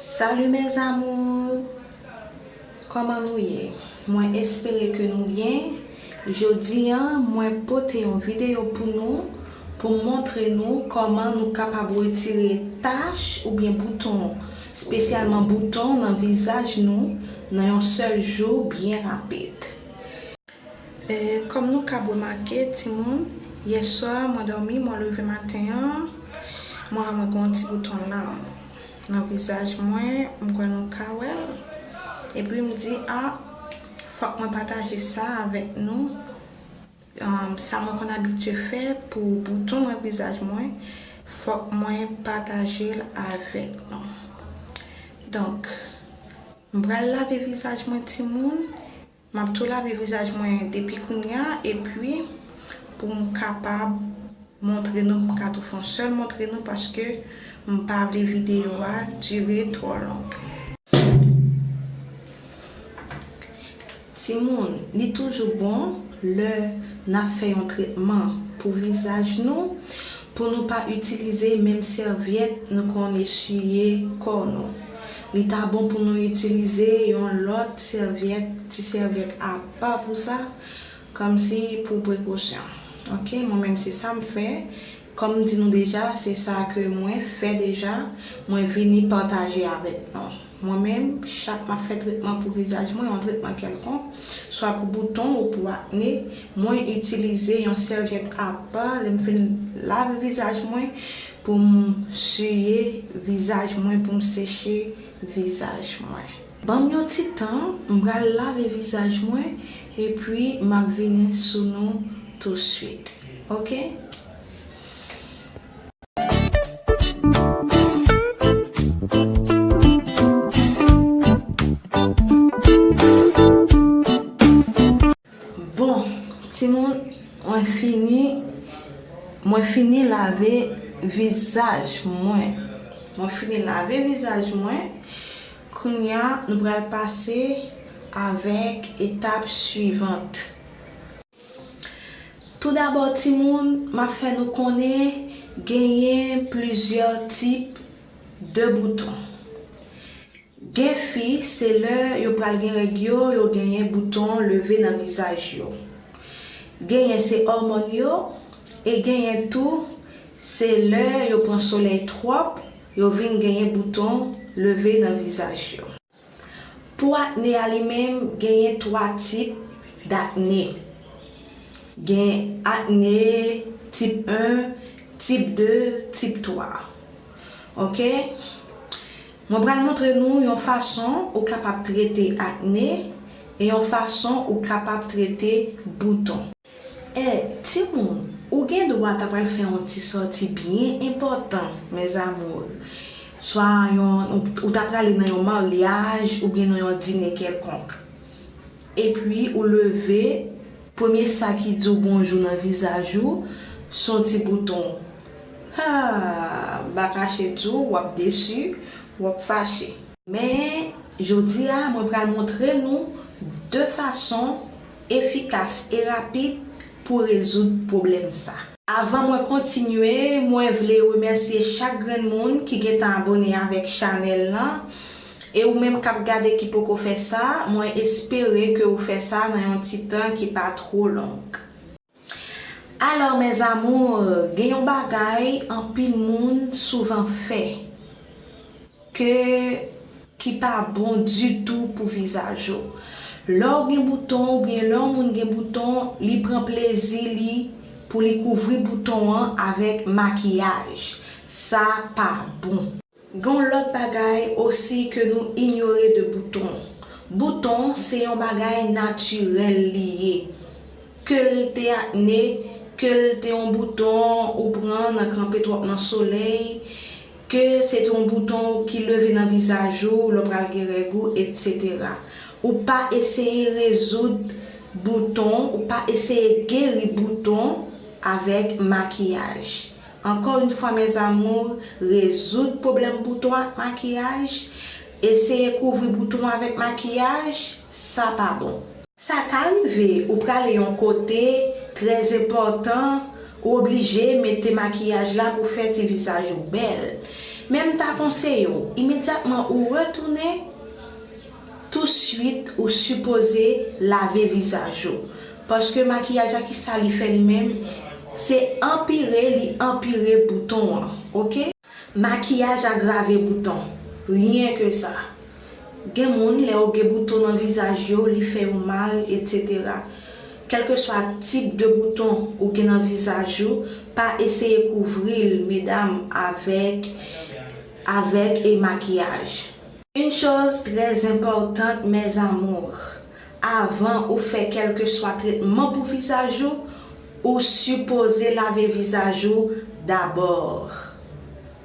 Salut mes amours Koman nou ye mwen espere ke nou byen jodi an mwen pote yon video pou nou pou m montre nou koman nou kapab retire tach oubyen bouton spesyalman bouton nan vizaj nou nan yon sèl jou byen rapid. Kòm nou kab remake timoun, yèswa mwen dòmi, mwen leve maten an, mwen wè mwen gen yon ti bouton larm nan vizaj mwen, m kwè nou ka wè l, epi m di a fòk mwen pataje sa avèk nou, sa mwen konn abitye fè pou bouton nan vizaj mwen, fòk mwen pataje l avèk nou. Donk, m pral lave vizaj mwen timoun. Map tou lave vizaj mwen depi kounya epi poum kapab montre nou m ka tou fon sèl montre nou paske m pa vle video a dire twò long. Timoun li toujou bon lè nap fè yon tretman pou vizaj nou pou nou pa itilize menm sèvyèt nou konn eswiye kò nou. Li ta bon pou nou itilize yon lòt sèvyèt, ti sèvyèt apa pou sa, kòmsi pou prekosyon. Ok, mwen menm se sa m fè, kòm m di nou deja, se sa ke mwen fè deja, mwen vini pataje avèk nou. Mwen menm, chak m ap fè tretman pou vizaj mwen, yon tretman kèlkonk, swa pou bouton ou pou akne, mwen itilize yon sèvyèt apa, lè m fin lave vizaj mwen, Pou m siye vizaj mwen pou m seche vizaj mwen. Ban m yon ti tan, m pral lave vizaj mwen epi m ap vini sou nou tousuit ok. Bon timoun mwen fini mwen fini lave vizaj mwen mwen fini lave vizaj mwen kounya nou pral pase avèk etap suivant tou dabò timoun map fè nou konnen genyen plizyè tip de bouton. Gen fi se lè yo pral gen règ yo yo genyen bouton leve nan vizaj yo. Genyen se òmòn yo e genyen tou se lè yo pran solèy twòp yo vin genyen bouton leve nan vizaj yo. Pou akne a li menm genyen 3 tip dakne. Gen akne tip 1, tip 2, tip 3. Ok. Mwen pral montre nou yon fason ou kapab trete akne e yon fason ou kapab trete bouton. Eh timoun ou gen dwa ta pral fè yon ti sòti byen enpòtan mes amours. Swa yon ou ta prale nan yon maryaj oubyen nan yon dine kèlkonk. Epi ou leve. Premye sa ki di w bonjou nan vizaj ou, s on ti bouton. Haa! M pa kache di w, w ap desi, w ap fache. Men, jodi a, mwen pral montre nou 2 fason efikas e rapid pou rezoud pwoblèm sa. Avan mwen kontinye, mwen vle remèsye chak grenn moun ki gentan abone avèk chanèl lan, e ou menm kap gade ki poko fè sa, mwen espere ke ou fè sa nan yon ti tan ki pa two long. Alors mes amours, gen yon bagay anpil moun souvan fè. Ke ki pa bon ditou pou vizaj ou. Lè w gen bouton oubyen lè yon moun gen bouton li pran plezi li pou li kouvri bouton an avèk makiyaj. Sa pa bon. Gen yon lòt bagay osi ke nou inyore de bouton. Bouton se yon bagay natirèl li ye. Ke l te akne, ke l te yon bouton ou pran nan kanpe twòp nan solèy, Ke se te yon bouton ki leve nan vizaj ou lè w pral gen règ ou etc. Ou pa eseye rezoud bouton, ou pa eseye geri bouton avèk makiyaj. Ankò yn fwa mes amours rezoud pwoblèm bouton ak makiyaj, eseye kouvri bouton avèk makiyaj, sa pa bon. Sa ka rive ou prale yon kote trè zenpòtan, ou oblije mete makiyaj la pou fè ti vizaj ou bèl. Men m ta konseye w, imedyatman ou retounen, touswit ou sipoze lave vizaj ou. Paske makiyaj la kisa li fè li menm, se anpire li anpire bouton an, ok. Makiyaj agrave bouton. Rien que ça. Gen moun lè yo gen bouton nan vizaj yo li fè yo mal etc. Kèlkeswa tip de bouton ou gen nan vizaj ou pa eseye kouvri l medam avèk avèk e makiyaj. Une chose très importante mes amours. Avan ou fè kèlkeswa tretman pou vizaj ou, ou sipoze lave vizaj ou dabor.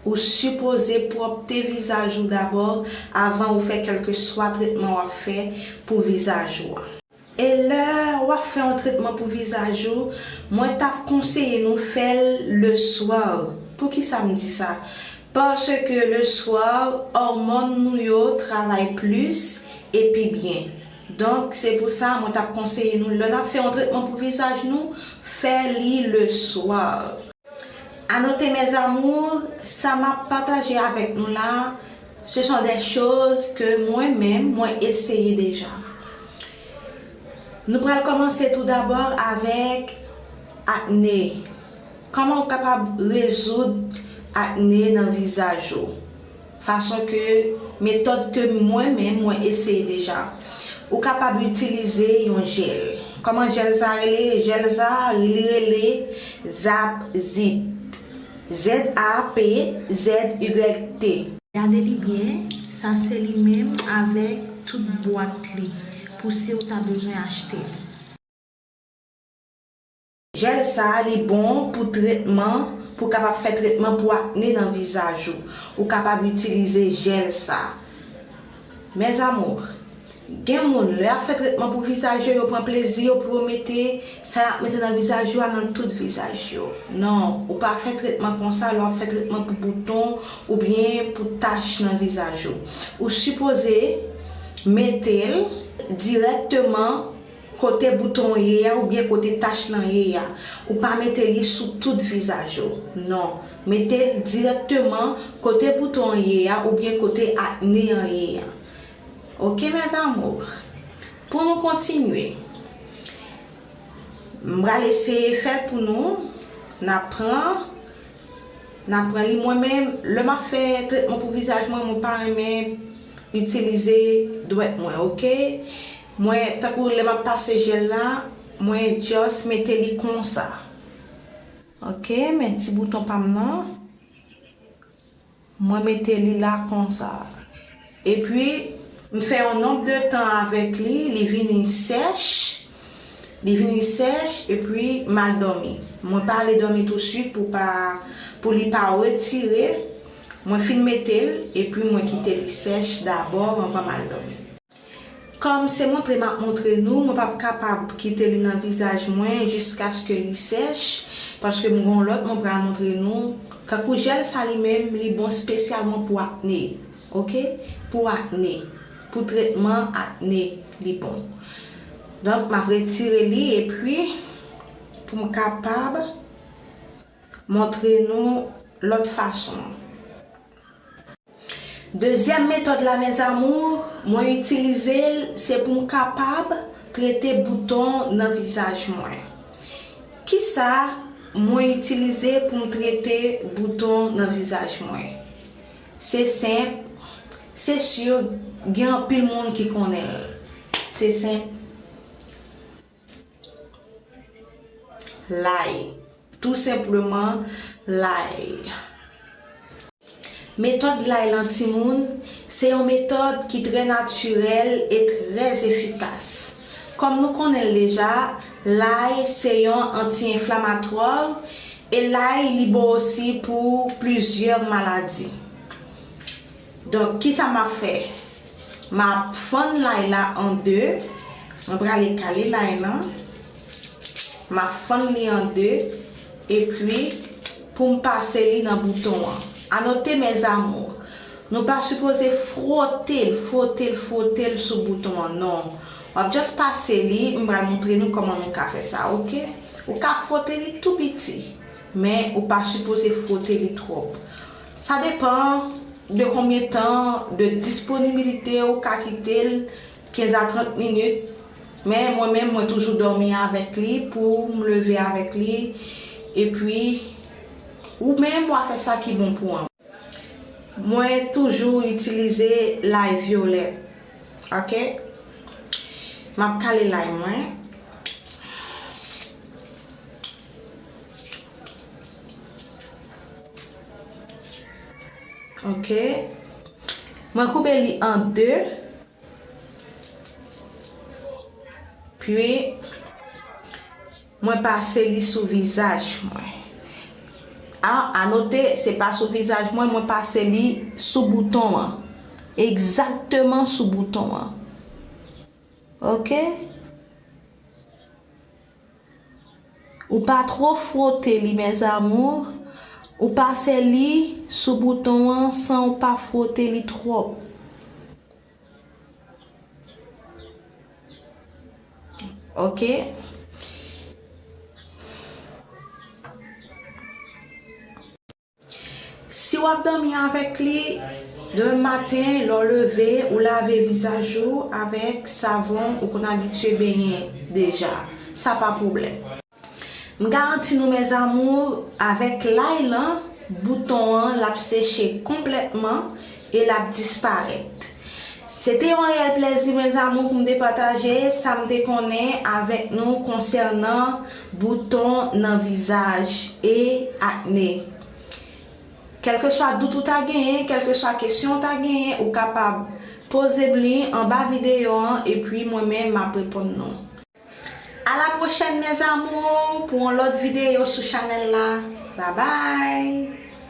Ou sipoze pwòpte vizaj ou dabor avan ou fè kèlkeswa tretman w ap fè pou vizaj ou a. E lè w ap fè yon tretman pou vizaj ou, mwen t ap konseye nou fè l le soir. Poukisa m di sa? Paske le soir òmòn nou yo travay plis e pi byen. Donk, se pou sa mwen t ap konseye nou lè n ap fè yon tretman pou vizaj nou, fè li le swa. A note mes amours, sa m ap pataje avèk nou la, ce sont des choses ke mwen menm mwen eseye deja. Nou pral kòmanse tou dabò avèk akne. Kòman ou kapab rezoud akne nan vizaj ou? Fason ke, Metòd ke mwen menm mwen eseye deja. Ou kapab itilize yon jèl. Kòman jèl sa rele? Jèl sa li rele Zap Zit. ZAP ZYT. Gade li byen, sa se li menm avèk tout bwat li, pou si ou ta bezwen achte li. Jèl sa li bon pou tretman pou kapab fè tretman pou akne nan vizaj ou ou kapab itilize jèl sa mes amours gen moun lè yap fè tretman pou vizaj yo yo pran plezi yo pou yo mete sa yap mete nan vizaj yo a nan tout vizaj yo nan ou pa fè tretman konsa lè wap fè tretman pou bouton oubyen pou tach nan vizaj ou ou sipoze metel dirèkteman Kote bouton an ye a oubyen kote tach lan ye a. Ou pa mete li sou tout vizaj ou. Non. Mete l dirèkteman kote bouton an ye a oubyen kote akne an ye a. Ok mes amours. Pou nou kontinye. M pral eseye fè l pou nou. N ap pran. N ap pran li. Mwen menm, lè m ap fè tretman pou vizaj mwen, mwen pa renmen itilize dwèt mwen. Ok. Mwen tankou lè map pase jel la mwen just mete li konsa ok men ti bouton pam nan mwen mete li la konsa epi m fè yon nonb de tan avèk li li vini sèch li vini sèch epi m al dòmi mwen pa ale dòmi tou swit pou pa pou li pa retire mwen fin metel epi mwen kite li sèch dabò anvan m al dòmi. Kòm se montre m ap montre nou, mwen p ap kapab kite li nan vizaj mwen jiskaske li sèch, paske m gen yon lòt mwen pral montre nou, tankou jèl sa li menm li bon spesyalman pou akne ok, pou akne, pou tretman akne li bon. Donk m ap retire li epi pou m kapab montre nou lòt fason an. Dezyèm metòd la mes amours mwen itilize l se pou m kapab trete bouton nan vizaj mwen. Kisa mwen itilize pou m trete bouton nan vizaj mwen? Se senp, se sur gen anpil moun ki konnen l. Se senp. Lay. Tou senpleman lay. Metòd lay lan timoun se yon metòd ki trè natirèl e trè efikas. Kòm nou konnen l deja, lay se yon anti-enflamatwa e lay li bon osi pou plizyè maladi. Donk kisa map fè map fann lay la an 2 mwen prale kale lay lan map fann li an 2 epi poum pase li nan bouton an a note mes amours nou pa sipoze frotel frotel frotel sou bouton an non wap just pase li m pral moutre nou koman nou ka fè sa ok ou ka frote li tou piti men ou pa sipoze frote li trop Sa depan de konbyen tan de disponibilite ou ka kite l 15 a 30 minit men mwen menm mwen toujou dòmi avèk li pou m leve avèk li epi ou menm wa fè sa ki bon pou an. Mwen toujou itilize lay vyolè ok map kale lay mwen Ok Mwen koupe li an 2 Puis Mwen pase li sou vizaj mwen A anote se pa sou vizaj mwen mwen pase li sou bouton an Exactement sou bouton an Ok. Ou pa two fwote li mes amours, ou pase li sou bouton an san ou pa fwote li twop. Ok. Si w ap dòmi avèk li, demen maten lè w leve, ou lave vizaj ou avèk savon ou konn abitye benyen deja. Sa pa pwoblèm. M garanti nou mes amours, avèk lay lan, bouton an l ap seche konplètman, E l ap disparèt. Se te yon reyèl plèzi, mes amours, pou m te pataje sa m te konnen avèk nou konsènan bouton nan vizaj e akne. Kèlkeswa dout ou ta genyen, kèlkeswa kesyon ou ta genyen, ou kapab poze m li anba videyo an epi mwen menm m ap reponn nou. A la pwochèn mes amours pou yon lòt videyo sou chanèl la. Babay!